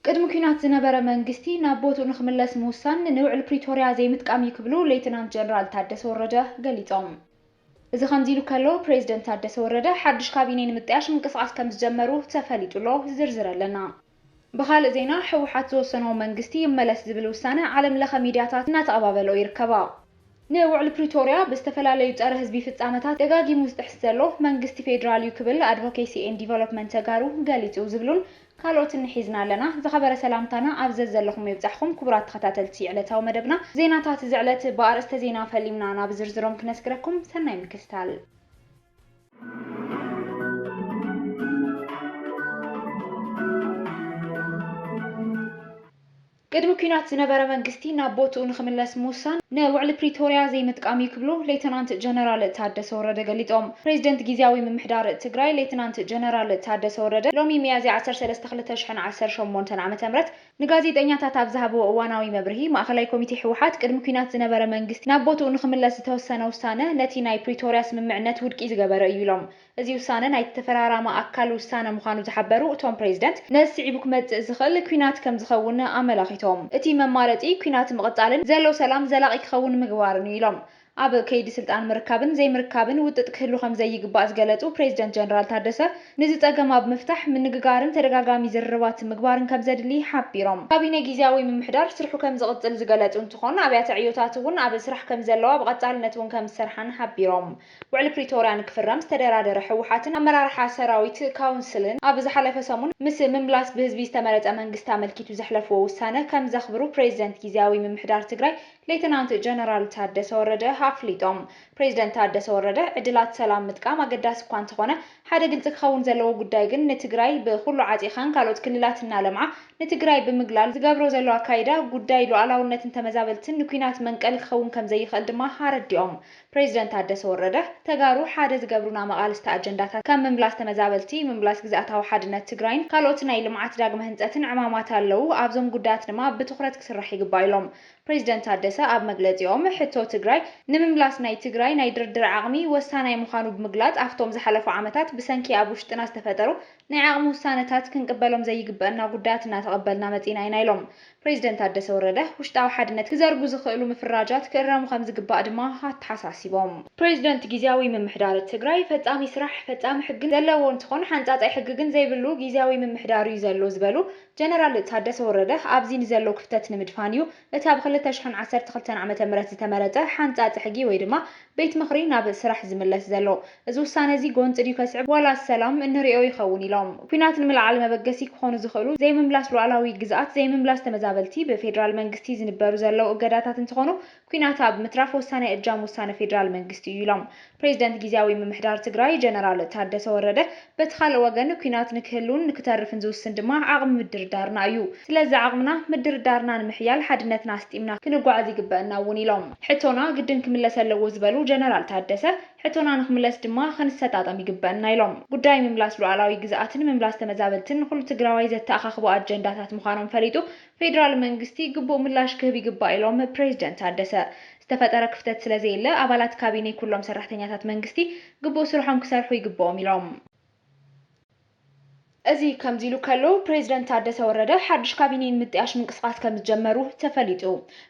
ቅድሚ ኲናት ዝነበረ መንግስቲ ናብ ቦትኡ ንኽምለስ ምውሳን ንውዕል ፕሪቶርያ ዘይምጥቃም እዩ ክብሉ ሌተናንት ጀነራል ታደሰ ወረደ ገሊፆም። እዚ ከምዚ ኢሉ ከሎ ፕሬዝደንት ታደሰ ወረደ ሓዱሽ ካቢኔ ንምጥያሽ ምንቅስቓስ ከምዝጀመሩ ተፈሊጡ'ሎ። ዝርዝር ኣለና። ብኻልእ ዜና ህወሓት ዝወሰኖ መንግስቲ ይመለስ ዝብል ውሳነ ዓለምለኸ ሚድያታት እናተቐባበልኦ ይርከባ። ንውዕሊ ፕሪቶርያ ብዝተፈላለዩ ፀረ ህዝቢ ፍፃመታት ደጋጊሙ ዝጥሕስ ዘሎ መንግስቲ ፌዴራል ዩ ክብል ኣድቮኬሲ ኤንድ ዲቨሎፕመንት ተጋሩ ገሊፁ ዝብሉን ካልኦትን ንሒዝና ኣለና። ዝኸበረ ሰላምታና ኣብ ዘዘለኹሞ ይብፃሕኹም ክቡራት ተኸታተልቲ ዕለታዊ መደብና ዜናታት እዚ ዕለት ብኣርእስተ ዜና ፈሊምና ናብ ዝርዝሮም ክነስግረኩም ሰናይ ምክትታል። ቅድሚ ኲናት ዝነበረ መንግስቲ ናብ ቦትኡ ንኽምለስ ምውሳን ንውዕሊ ፕሪቶርያ ዘይምጥቃም እዩ ክብሉ ሌተናንት ጀነራል ታደሰ ወረደ ገሊፆም። ፕሬዚደንት ጊዚያዊ ምምሕዳር ትግራይ ሌተናንት ጀነራል ታደሰ ወረደ ሎሚ ሚያዝያ ዓሰርተ ሰለስተ ክልተ ሽሕን ዓሰርተ ሸሞንተን ዓመተ ምህረት ንጋዜጠኛታት ኣብ ዝሃብዎ እዋናዊ መብርሂ ማእኸላይ ኮሚቴ ህወሓት ቅድሚ ኲናት ዝነበረ መንግስቲ ናብ ቦትኡ ንኽምለስ ዝተወሰነ ውሳነ ነቲ ናይ ፕሪቶርያ ስምምዕነት ውድቂ ዝገበረ እዩ ኢሎም። እዚ ውሳነ ናይቲ ተፈራራሚ ኣካል ውሳነ ምዃኑ ዝሓበሩ እቶም ፕሬዚደንት፣ ነዚ ስዒቡ ክመፅእ ዝኽእል ኲናት ከምዝኸውን ኣመላኺቶም። እቲ መማረፂ ኲናት ምቕፃልን ዘሎ ሰላም ዘላቒ ክኸውን ምግባርን እዩ ኢሎም። ኣብ ከይዲ ስልጣን ምርካብን ዘይምርካብን ውጥጥ ክህሉ ከምዘይግባእ ዝገለፁ ፕሬዚደንት ጀነራል ታደሰ፣ ንዚ ፀገም ኣብ ምፍታሕ ምንግጋርን ተደጋጋሚ ዝርርባት ምግባርን ከምዘድሊ ሓቢሮም። ካቢኔ ጊዚያዊ ምምሕዳር ስርሑ ከምዝቕፅል ዝገለፁ እንትኾን፣ ኣብያተ ዕዮታት እውን ኣብ ስራሕ ከምዘለዋ ብቐፃልነት እውን ከምዝሰርሓን ሓቢሮም። ውዕሊ ፕሪቶርያ ንክፍረም ዝተደራደረ ህወሓትን ኣመራርሓ ሰራዊት ካውንስልን ኣብ ዝሓለፈ ሰሙን ምስ ምምላስ ብህዝቢ ዝተመረፀ መንግስቲ ኣመልኪቱ ዘሕለፍዎ ውሳነ ከምዘኽብሩ ፕሬዚደንት ጊዚያዊ ምምሕዳር ትግራይ ሌተናንት ጀነራል ታደሰ ወረደ ኣፍሊጦም። ፕሬዚደንት ታደሰ ወረደ ዕድላት ሰላም ምጥቃም ኣገዳሲ እኳ እንተኾነ ሓደ ግልፂ ክኸውን ዘለዎ ጉዳይ ግን ንትግራይ ብኹሉ ዓፂኻን ካልኦት ክልላት እናለምዓ ንትግራይ ብምግላል ዝገብሮ ዘሎ ኣካይዳ ጉዳይ ሉኣላውነትን ተመዛበልትን ንኲናት መንቀሊ ክኸውን ከምዘይኽእል ድማ ኣረዲኦም። ፕሬዚደንት ታደሰ ወረደ፣ ተጋሩ ሓደ ዝገብሩና መቓልስቲ ኣጀንዳታት ከም ምምላስ ተመዛበልቲ፣ ምምላስ ግዝኣታዊ ሓድነት ትግራይን ካልኦት ናይ ልምዓት ዳግመ ህንፀትን ዕማማት ኣለዉ። ኣብዞም ጉዳያት ድማ ብትኹረት ክስራሕ ይግባእ ኢሎም። ፕሬዚደንት ታደሰ ኣብ መግለፂኦም፣ ሕቶ ትግራይ ንምምላስ ናይ ትግራይ ናይ ድርድር ዓቕሚ ወሳናይ ምዃኑ ብምግላፅ፣ ኣፍቶም ዝሓለፉ ዓመታት ብሰንኪ ኣብ ውሽጥና ዝተፈጠሩ ናይ ዓቕሚ ውሳነታት ክንቅበሎም ዘይግበእና ጉዳያት እናተቐበልና መፂእና ኢና ኢሎም። ፕረዚደንት ታደሰ ወረደ፣ ውሽጣዊ ሓድነት ክዘርጉ ዝኽእሉ ምፍራጃት ክእረሙ ከምዝግባእ ድማ ኣተሓሳሲቦም። ፕረዚደንት ጊዚያዊ ምምሕዳር ትግራይ፣ ፈፃሚ ስራሕ፣ ፈፃሚ ሕግን ዘለዎ እንትኾን ሓንፃፃይ ሕጊ ግን ዘይብሉ ጊዚያዊ ምምሕዳር እዩ ዘሎ ዝበሉ ጀነራል ታደሰ ወረደ፣ ኣብዚ ንዘሎ ክፍተት ንምድፋን እዩ እቲ ብ ክልተ ሽሕን ዓሰርተ ክልተን ዓመተ ምህረት ዝተመረፀ ሓንፃፂ ሕጊ ወይ ድማ ቤት ምኽሪ ናብ ስራሕ ዝምለስ ዘሎ። እዚ ውሳነ'ዚ ጎንፂ ድዩ ከስዕብ ዋላስ ሰላም? እንሪኦ ይኸውን ኢሎም። ኲናት ንምልዓል መበገሲ ክኾኑ ዝኽእሉ፣ ዘይምምላስ ሉኣላዊ ግዝኣት፣ ዘይምምላስ ተመዛበልቲ፣ ብፌደራል መንግስቲ ዝንበሩ ዘለው እገዳታት እንትኾኑ ኲናት ኣብ ምትራፍ ወሳናይ እጃም ውሳነ ፌደራል መንግስቲ እዩ ኢሎም። ፕሬዚደንት ጊዚያዊ ምምሕዳር ትግራይ ጀነራል ታደሰ ወረደ በቲ ካልእ ወገን ኲናት ንክህልውን ንክተርፍን ዝውስን ድማ ዓቕሚ ምድርዳርና እዩ። ስለዚ ዓቕምና ምድርዳርና ንምሕያል ሓድነትና ኣስጢምና ክንጓዓዝ ይግበእና እውን ኢሎም። ሕቶና ግድን ክምለስ ኣለዎ ዝበሉ ጀነራል ታደሰ፣ ሕቶና ንክምለስ ድማ ክንሰጣጠም ይግበእና ኢሎም። ጉዳይ ምምላስ ሉኣላዊ ግዝኣትን ምምላስ ተመዛበልትን ንኹሉ ትግራዋይ ዘተኣኻኽቡ ኣጀንዳታት ምዃኖም ፈሊጡ ፌዴራል መንግስቲ ግቡእ ምላሽ ክህብ ይግባእ ኢሎም ፕሬዚደንት ታደሰ። ዝተፈጠረ ክፍተት ስለዘየለ ኣባላት ካቢኔ ኩሎም ሰራሕተኛታት መንግስቲ ግቡእ ስርሖም ክሰርሑ ይግበኦም ኢሎም። እዚ ከምዚ ኢሉ ከሎ ፕሬዚደንት ታደሰ ወረደ ሓዱሽ ካቢኔ ንምጥያሽ ምንቅስቓስ ከምዝጀመሩ ተፈሊጡ።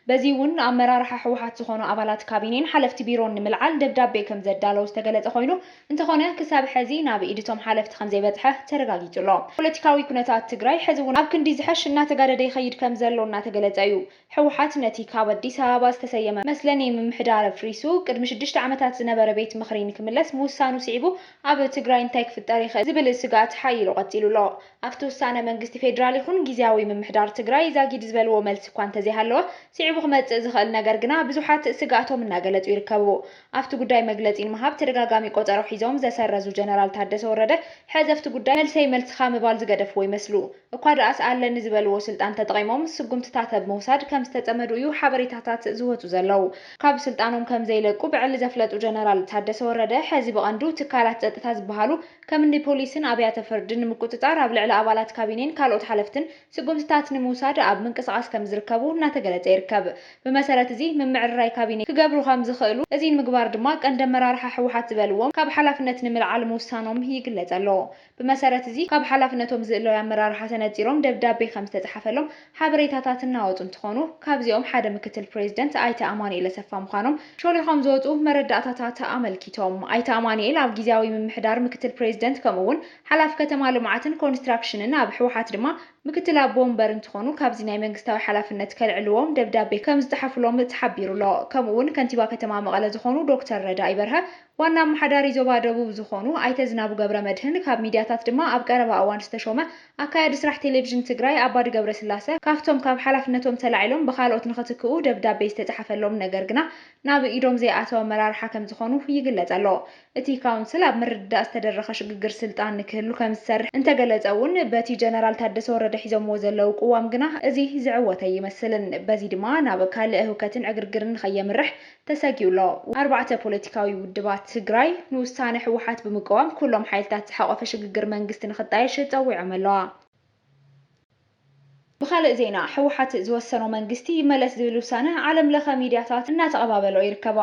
በዚ እውን ንኣመራርሓ ህወሓት ዝኾኑ ኣባላት ካቢኔን ሓለፍቲ ቢሮን ንምልዓል ደብዳቤ ከምዘዳለው ዝተገለፀ ኮይኑ፣ እንተኾነ ክሳብ ሐዚ ናብ ኢድ እቶም ሓለፍቲ ከምዘይበፅሐ ተረጋጊፁ ኣሎ። ፖለቲካዊ ኩነታት ትግራይ ሐዚ እውን ኣብ ክንዲ ዝሐሽ እናተጋደደ ይኸይድ ከምዘሎ እናተገለፀ እዩ። ህወሓት ነቲ ካብ ኣዲስ ኣበባ ዝተሰየመ መስለኒ ምምሕዳር ኣፍሪሱ ቅድሚ ሽዱሽተ ዓመታት ዝነበረ ቤት ምኽሪ ንክምለስ ምውሳኑ ስዒቡ ኣብ ትግራይ እንታይ ክፍጠር ይኽእል ዝብል ስግኣት ሓይሉ ቀፂሉ ኣሎ። ኣብቲ ውሳነ መንግስቲ ፌዴራል ይኹን ጊዚያዊ ምምሕዳር ትግራይ ዛጊድ ዝበልዎ መልሲ እኳ እንተዘይሃለወ ስዒቡ ክመፅእ ዝኽእል ነገር ግና ብዙሓት ስግኣቶም እናገለፁ ይርከቡ። ኣብቲ ጉዳይ መግለጺ ንምሃብ ተደጋጋሚ ቆጸሮ ሒዞም ዘሰረዙ ጀነራል ታደሰ ወረደ፣ ሕዚ ኣብቲ ጉዳይ መልሰይ መልስኻ ምባል ዝገደፍዎ ይመስሉ። እኳ ደኣስ ኣለኒ ዝበልዎ ስልጣን ተጠቒሞም ስጉምትታት ኣብ ምውሳድ ከም ዝተጸመዱ እዩ ሓበሬታታት ዝወጹ ዘለዉ። ካብ ስልጣኖም ከም ዘይለቁ ብዕሊ ዘፍለጡ ጀነራል ታደሰ ወረደ፣ ሕዚ ብቐንዱ ትካላት ጸጥታ ዝበሃሉ ከምኒ ፖሊስን ኣብያተ ፍርድን ንምቁጽጻር ኣብ ልዕሊ ኣባላት ካቢኔን ካልኦት ሓለፍትን ስጉምትታት ንምውሳድ ኣብ ምንቅስቓስ ከምዝርከቡ እናተገለፀ ይርከብ። ብመሰረት እዚ ምምዕርራይ ካቢኔ ክገብሩ ከምዝኽእሉ፣ እዚ ንምግባር ድማ ቀንዲ ኣመራርሓ ህወሓት ዝበልዎም ካብ ሓላፍነት ንምልዓል ምውሳኖም ይግለፅ ኣሎ። ብመሰረት እዚ ካብ ሓላፍነቶም ዝእለዩ ኣመራርሓ ተነፂሮም ደብዳቤ ከምዝተፅሓፈሎም ሓበሬታታት እናወፁ እንትኾኑ፣ ካብዚኦም ሓደ ምክትል ፕሬዚደንት ኣይተ ኣማኑኤል ኣሰፋ ምዃኖም ሾሊኾም ዝወፁ መረዳእታታት ኣመልኪቶም። ኣይተ ኣማኑኤል ኣብ ጊዚያዊ ምምሕዳር ምክትል ፕሬዚደንት ከምኡ እውን፣ ሓላፊ ከተማ ልምዓትን ኮንስትራክሽንን ኣብ ህወሓት ድማ ምክትል ኣቦ ወንበር እንትኾኑ ካብዚ ናይ መንግስታዊ ሓላፍነት ከልዕልዎም ደብዳቤ ከምዝፀሓፉሎም ተሓቢሩ'ሎ። ከምኡ'ውን ከንቲባ ከተማ መቐለ ዝኾኑ ዶክተር ረዳኢ በርሀ፣ ዋና ኣመሓዳሪ ዞባ ደቡብ ዝኾኑ ኣይተ ዝናቡ ገብረመድህን ካብ ሚድያታት ድማ ኣብ ቀረባ እዋን ዝተሾመ ኣካያዲ ስራሕ ቴሌቭዥን ትግራይ ኣባዲ ገብረስላሰ ካፍቶም ካብ ሓላፍነቶም ተላዒሎም ብኻልኦት ንኽትክኡ ደብዳቤ ዝተፀሓፈሎም ነገር ግና ናብ ኢዶም ዘይኣተወ ኣመራርሓ ከምዝኾኑ ይግለፀ'ሎ። እቲ ካውንስል ኣብ ምርድዳእ ዝተደረኸ ሽግግር ስልጣን ንክህሉ ከምዝሰርሕ እንተገለፀ እውን በቲ ጀነራል ታደሰ ወረደ ሒዞምዎ ዘለው ቅዋም ግና እዚ ዝዕወት ኣይመስልን። በዚ ድማ ናብ ካልእ ህውከትን ዕግርግርን ንከየምርሕ ተሰጊኡ ኣሎ። ኣርባዕተ ፖለቲካዊ ውድባት ትግራይ ንውሳነ ህወሓት ብምቅዋም ኩሎም ሓይልታት ዝሓቖፈ ሽግግር መንግስቲ ንክጣየሽ ፀዊዖም ኣለዋ። ብኻልእ ዜና ህወሓት ዝወሰኖ መንግስቲ ይመለስ ዝብል ውሳነ ዓለም ለኸ ሚድያታት እናተቐባበልኦ ይርከባ።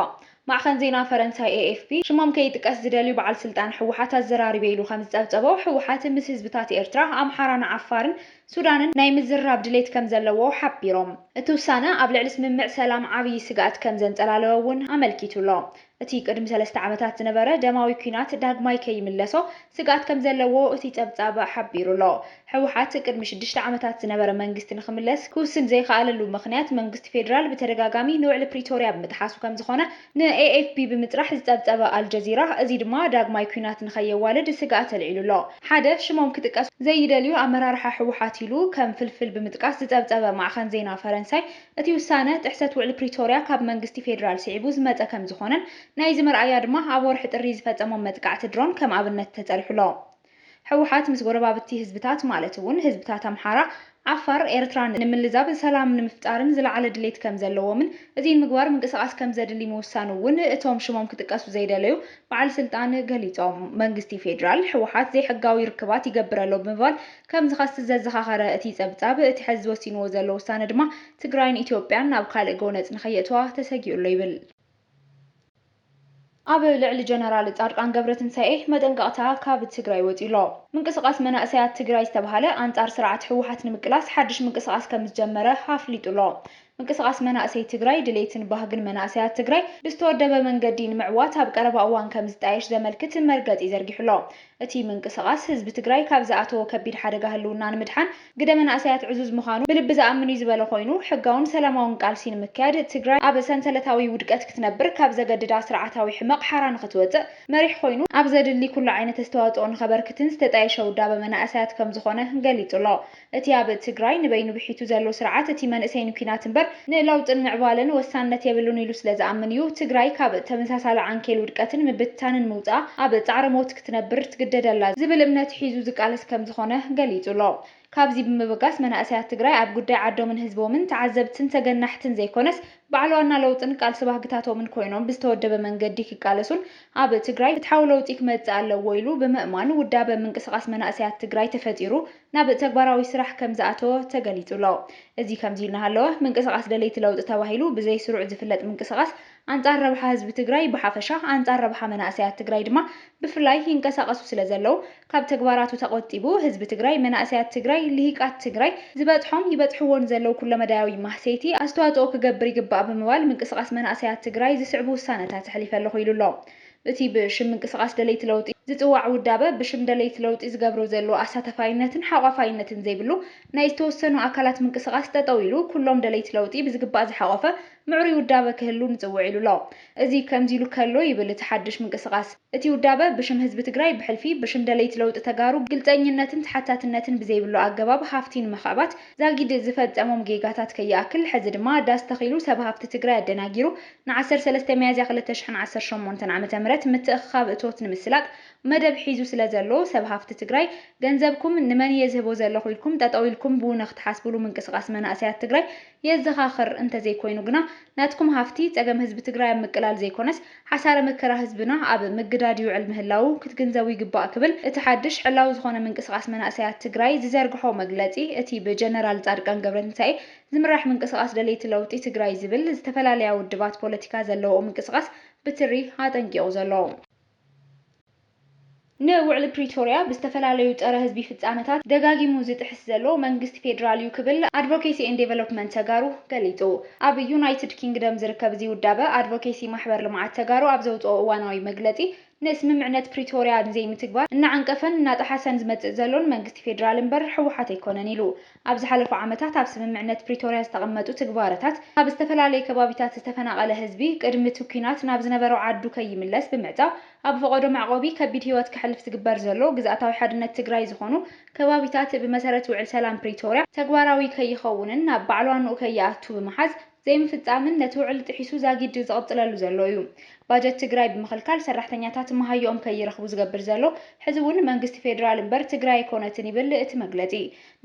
ማዕኸን ዜና ፈረንሳይ ኤኤፍፒ ሽሞም ከይጥቀስ ዝደልዩ በዓል ስልጣን ህወሓት ኣዘራሪበ ኢሉ ከምዝፀብፀቦ ህወሓት ምስ ህዝብታት ኤርትራ፣ ኣምሓራን ዓፋርን ሱዳንን ናይ ምዝርራብ ድሌት ከምዘለዎ ሓቢሮም። እቲ ውሳነ ኣብ ልዕሊ ስምምዕ ሰላም ዓብዪ ስግኣት ከምዘንፀላለወ እውን ኣመልኪቱ ኣሎ። እቲ ቅድሚ ሰለስተ ዓመታት ዝነበረ ደማዊ ኲናት ዳግማይ ከይምለሶ ስግኣት ከምዘለዎ እቲ ጸብጻብ ሓቢሩ ኣሎ። ህወሓት ቅድሚ ሽዱሽተ ዓመታት ዝነበረ መንግስቲ ንኽምለስ ክውስን ዘይኸኣለሉ ምኽንያት መንግስቲ ፌደራል ብተደጋጋሚ ንውዕሊ ፕሪቶርያ ብምጥሓሱ ከምዝኾነ ንኤኤፍፒ ብምፅራሕ ዝፀብፀበ ኣልጀዚራ እዚ ድማ ዳግማይ ኲናት ንኸየዋልድ ስግኣት ኣልዒሉ ኣሎ። ሓደ ሽሞም ክጥቀሱ ዘይደልዩ ኣመራርሓ ህወሓት ኢሉ ከም ፍልፍል ብምጥቃስ ዝፀብፀበ ማዕኸን ዜና ፈረንሳይ እቲ ውሳነ ጥሕሰት ውዕሊ ፕሪቶርያ ካብ መንግስቲ ፌዴራል ስዒቡ ዝመፀ ከምዝኾነን ናይዚ መርኣያ ድማ ኣብ ወርሒ ጥሪ ዝፈፀሞም መጥቃዕቲ ድሮን ከም ኣብነት ተፀሪሑ ኣሎ። ህወሓት ምስ ጎረባብቲ ህዝብታት ማለት እውን ህዝብታት ኣምሓራ፣ ዓፋር፣ ኤርትራን ንምልዛብ ሰላም ንምፍጣርን ዝለዓለ ድሌት ከምዘለዎምን እዚ ንምግባር ምንቅስቓስ ከምዘድሊ ምውሳኑ እውን እቶም ሽሞም ክጥቀሱ ዘይደለዩ በዓል ስልጣን ገሊፆም። መንግስቲ ፌዴራል ህወሓት ዘይሕጋዊ ርክባት ይገብር ኣሎ ብምባል ከም ዝኸስስ ዘዘኻኸረ እቲ ፀብፃብ፣ እቲ ሐዚ ወሲንዎ ዘሎ ውሳነ ድማ ትግራይን ኢትዮጵያን ናብ ካልእ ጎነፅ ንከየእትዋ ተሰጊኡ ኣሎ ይብል። ኣብ ልዕሊ ጀነራል ፃድቃን ገብረትንሳኤ መጠንቀቕታ ካብ ትግራይ ወፂኡ ኣሎ። ምንቅስቓስ መናእሰያት ትግራይ ዝተብሃለ ኣንፃር ስርዓት ህወሓት ንምቅላስ ሓድሽ ምንቅስቓስ ከምዝጀመረ ኣፍሊጡ ኣሎ። ምንቅስቓስ መናእሰይ ትግራይ ድሌትን ባህግን መናእሰያት ትግራይ ብዝተወደበ መንገዲ ንምዕዋት ኣብ ቀረባ እዋን ከምዝጣየሽ ዘመልክት መርገፂ ዘርጊሑ ኣሎ። እቲ ምንቅስቓስ ህዝቢ ትግራይ ካብ ዝኣተዎ ከቢድ ሓደጋ ህልውና ንምድሓን ግደ መናእሰያት ዕዙዝ ምዃኑ ብልቢ ዝኣምን እዩ ዝበለ ኮይኑ፣ ሕጋውን ሰላማውን ቃልሲ ንምክያድ ትግራይ ኣብ ሰንሰለታዊ ውድቀት ክትነብር ካብ ዘገድዳ ስርዓታዊ ሕመቕ ሓራ ንኽትወፅእ መሪሕ ኮይኑ ኣብ ዘድሊ ኩሉ ዓይነት ኣስተዋፅኦ ንኸበርክትን ዝተጣየሸ ውዳበ መናእሰያት ከምዝኾነ ገሊፁ ኣሎ። እቲ ኣብ ትግራይ ንበይኑ ብሒቱ ዘሎ ስርዓት እቲ መንእሰይ ንኲናት እምበር ንለውጥን ምዕባለን ወሳንነት የብሉን ኢሉ ስለ ዝኣምን እዩ ትግራይ ካብ ተመሳሳሊ ዓንኬል ውድቀትን ምብትታንን ምውፅኣ ኣብ ፃዕረ ሞት ክትነብር ትግደደላ ዝብል እምነት ሒዙ ዝቃለስ ከም ዝኾነ ገሊፁ ኣሎ። ካብዚ ብምብጋስ መናእሰያት ትግራይ ኣብ ጉዳይ ዓዶምን ህዝቦምን ተዓዘብትን ተገናሕትን ዘይኮነስ በዓል ዋና ለውጥን ቃልሲ ባህግታቶምን ኮይኖም ብዝተወደበ መንገዲ ክቃለሱን ኣብ ትግራይ ፍትሓዊ ለውጢ ክመፅእ ኣለዎ ኢሉ ብምእማን ውዳበ ምንቅስቓስ መናእሰያት ትግራይ ተፈጢሩ ናብ ተግባራዊ ስራሕ ከምዝኣተወ ተገሊፁ'ሎ። እዚ ከምዚ እናሃለወ ምንቅስቓስ ደለይቲ ለውጢ ተባሂሉ ብዘይ ስሩዕ ዝፍለጥ ምንቅስቓስ ኣንፃር ረብሓ ህዝቢ ትግራይ ብሓፈሻ ኣንፃር ረብሓ መናእሰያት ትግራይ ድማ ብፍላይ ይንቀሳቐሱ ስለዘለው ካብ ተግባራቱ ተቖጢቡ ህዝቢ ትግራይ መናእሰያት ትግራይ ልሂቃት ትግራይ ዝበፅሖም ይበፅሕዎ ንዘለው ኩለመዳያዊ ማህሰይቲ ኣስተዋፅኦ ክገብር ይግባእ ብምባል ምንቅስቓስ መናእሰያት ትግራይ ዝስዕቡ ውሳነታት ኣሕሊፈ ኣለኹ ኢሉ'ሎ። እቲ ብሽም ምንቅስቓስ ደለይቲ ለውጢ ዝጽዋዕ ውዳበ፣ ብሽም ደለይቲ ለውጢ ዝገብሮ ዘሎ ኣሳታፋይነትን ሓቋፋይነትን ዘይብሉ ናይ ዝተወሰኑ ኣካላት ምንቅስቓስ ጠጠው ኢሉ ኩሎም ደለይቲ ለውጢ ብዝግባእ ዝሓቖፈ ምዕሩይ ውዳበ ክህሉ ንጽውዕ ኢሉ ኣሎ። እዚ ከምዚ ኢሉ ከሎ ይብል እቲ ሓድሽ ምንቅስቓስ፣ እቲ ውዳበ ብሽም ህዝቢ ትግራይ ብሕልፊ ብሽም ደለይቲ ለውጢ ተጋሩ ግልጸኝነትን ተሓታትነትን ብዘይብሉ ኣገባብ ሃፍቲ ንምኽዕባት ዛጊድ ዝፈጸሞም ጌጋታት ከይኣክል ሕዚ ድማ ዳስ ተኺሉ ሰብ ሃፍቲ ትግራይ ኣደናጊሩ ንዓሰርተ ሰለስተ ሚያዝያ ክልተ ሽሕን ዓሰርተ ሸሞንተን ዓመተ ምህረት ምትእኽኻብ እቶት ንምስላጥ መደብ ሒዙ ስለዘሎ ሰብ ሃፍቲ ትግራይ ገንዘብኩም ንመን እየ ዝህቦ ዘለኹ ኢልኩም ጠጠው ኢልኩም ብውነ ክትሓስብሉ ምንቅስቓስ መናእሰያት ትግራይ የዘኻኽር። እንተዘይኮይኑ ግና ናትኩም ሃፍቲ ፀገም ህዝቢ ትግራይ ኣብ ምቅላል ዘይኮነስ ሓሳረ መከራ ህዝብና ኣብ ምግዳድ ይውዕል ምህላዉ ክትግንዘቡ ይግባእ ክብል እቲ ሓድሽ ዕላዊ ዝኾነ ምንቅስቓስ መናእሰያት ትግራይ ዝዘርግሖ መግለፂ እቲ ብጀነራል ፃድቃን ገብረትንሳኤ ዝምራሕ ምንቅስቓስ ደለይቲ ለውጢ ትግራይ ዝብል ዝተፈላለያ ውድባት ፖለቲካ ዘለውኦ ምንቅስቓስ ብትሪ ኣጠንቂቑ ዘሎ። ንውዕሊ ፕሪቶርያ ብዝተፈላለዩ ፀረ ህዝቢ ፍፃመታት ደጋጊሙ ዝጥሕስ ዘሎ መንግስቲ ፌዴራል ዩ ክብል ኣድቮኬሲ ኤንድ ዴቨሎፕመንት ተጋሩ ገሊፁ። ኣብ ዩናይትድ ኪንግደም ዝርከብ እዚ ውዳበ ኣድቮኬሲ ማሕበር ልምዓት ተጋሩ ኣብ ዘውፅኦ እዋናዊ መግለፂ ንስምምዕነት ፕሪቶርያ ንዘይምትግባር እናዓንቀፈን እናጠሓሰን ዝመፅእ ዘሎ ንመንግስቲ ፌዴራል እምበር ህወሓት ኣይኮነን ኢሉ። ኣብ ዝሓለፉ ዓመታት ኣብ ስምምዕነት ፕሪቶርያ ዝተቐመጡ ትግባረታት ካብ ዝተፈላለዩ ከባቢታት ዝተፈናቐለ ህዝቢ ቅድሚ እቲ ኲናት ናብ ዝነበሮ ዓዱ ከይምለስ ብምዕፃው ኣብ ፈቖዶ መዕቖቢ ከቢድ ህይወት ከሕልፍ ዝግበር ዘሎ ግዝኣታዊ ሓድነት ትግራይ ዝኾኑ ከባቢታት ብመሰረት ውዕል ሰላም ፕሪቶርያ ተግባራዊ ከይኸውንን ናብ ባዕሏ ኑኡ ከይኣቱ ብምሓዝ ዘይምፍፃምን ነቲ ውዕሊ ጥሒሱ ዛጊድ ዝቕፅለሉ ዘሎ እዩ። ባጀት ትግራይ ብምኽልካል ሰራሕተኛታት መሃየኦም ከይረኽቡ ዝገብር ዘሎ ሕዚ እውን መንግስቲ ፌዴራል እምበር ትግራይ ኣይኮነትን ይብል እቲ መግለፂ።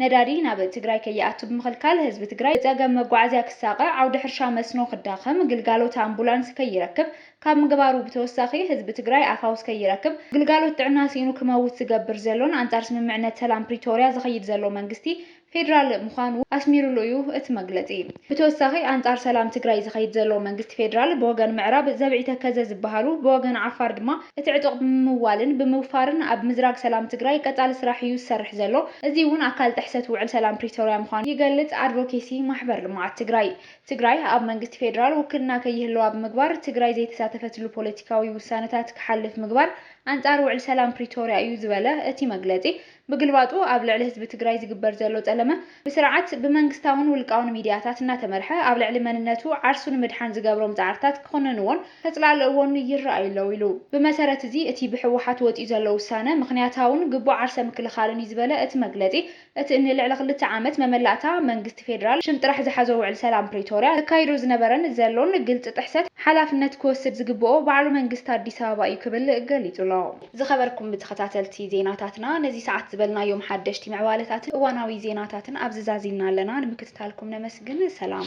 ነዳዲ ናብ ትግራይ ከይኣቱ ብምኽልካል ህዝቢ ትግራይ ብፀገም መጓዓዝያ ክሳቐ፣ ዓውዲ ሕርሻ መስኖ ክዳኸም፣ ግልጋሎት ኣምቡላንስ ከይረክብ ካብ ምግባሩ ብተወሳኺ ህዝቢ ትግራይ ኣፋውስ ከይረክብ፣ ግልጋሎት ጥዕና ስኢኑ ክመውት ዝገብር ዘሎን ኣንፃር ስምምዕነት ሰላም ፕሪቶርያ ዝኸይድ ዘሎ መንግስቲ ፌዴራል ምዃኑ ኣስሚሩሉ እዩ እቲ መግለፂ። ብተወሳኺ ኣንፃር ሰላም ትግራይ ዝኸይድ ዘሎ መንግስቲ ፌዴራል ብወገን ምዕራብ ዘብዒ ተከዘ ዝበሃሉ ብወገን ዓፋር ድማ እቲ ዕጡቕ ብምምዋልን ብምውፋርን ኣብ ምዝራግ ሰላም ትግራይ ቀፃሊ ስራሕ እዩ ዝሰርሕ ዘሎ እዙይ እውን ኣካል ጥሕሰት ውዕል ሰላም ፕሪቶሪያ ምዃኑ ይገልፅ ኣድቮኬሲ ማሕበር ልምዓት ትግራይ። ትግራይ ኣብ መንግስቲ ፌዴራል ውክልና ከይህለዋ ብምግባር ትግራይ ዘይተሳተፈትሉ ፖለቲካዊ ውሳነታት ክሓልፍ ምግባር ኣንፃር ውዕል ሰላም ፕሪቶሪያ እዩ ዝበለ እቲ መግለፂ ብግልባጡ ኣብ ልዕሊ ህዝቢ ትግራይ ዝግበር ዘሎ ጸለመ ብስርዓት ብመንግስታውን ውልቃውን ሚድያታት እናተመርሐ ኣብ ልዕሊ መንነቱ ዓርሱ ንምድሓን ዝገብሮም ጻዕርታት ክኹንንዎን ከጽላልእዎን ይረኣዩ ኣለው ኢሉ። ብመሰረት እዚ እቲ ብህወሓት ወጺኡ ዘሎ ውሳነ ምኽንያታውን ግቡእ ዓርሰ ምክልኻልን እዩ ዝበለ እቲ መግለጺ እቲ እኒ ልዕሊ ክልተ ዓመት መመላእታ መንግስቲ ፌደራል ሽም ጥራሕ ዝሓዞ ውዕሊ ሰላም ፕሪቶርያ ዘካይዶ ዝነበረን ዘሎን ግልጺ ጥሕሰት ሓላፍነት ክወስድ ዝግበኦ ባዕሉ መንግስቲ ኣዲስ ኣበባ እዩ ክብል ገሊጹ ኣሎ። ዝኸበርኩም ተኸታተልቲ ዜናታትና ነዚ ሰዓት ዝበልናዮም ሓደሽቲ ምዕባለታትን እዋናዊ ዜናታትን ኣብዚ ዛዚምና ኣለና። ንምክትታልኩም ነመስግን። ሰላም።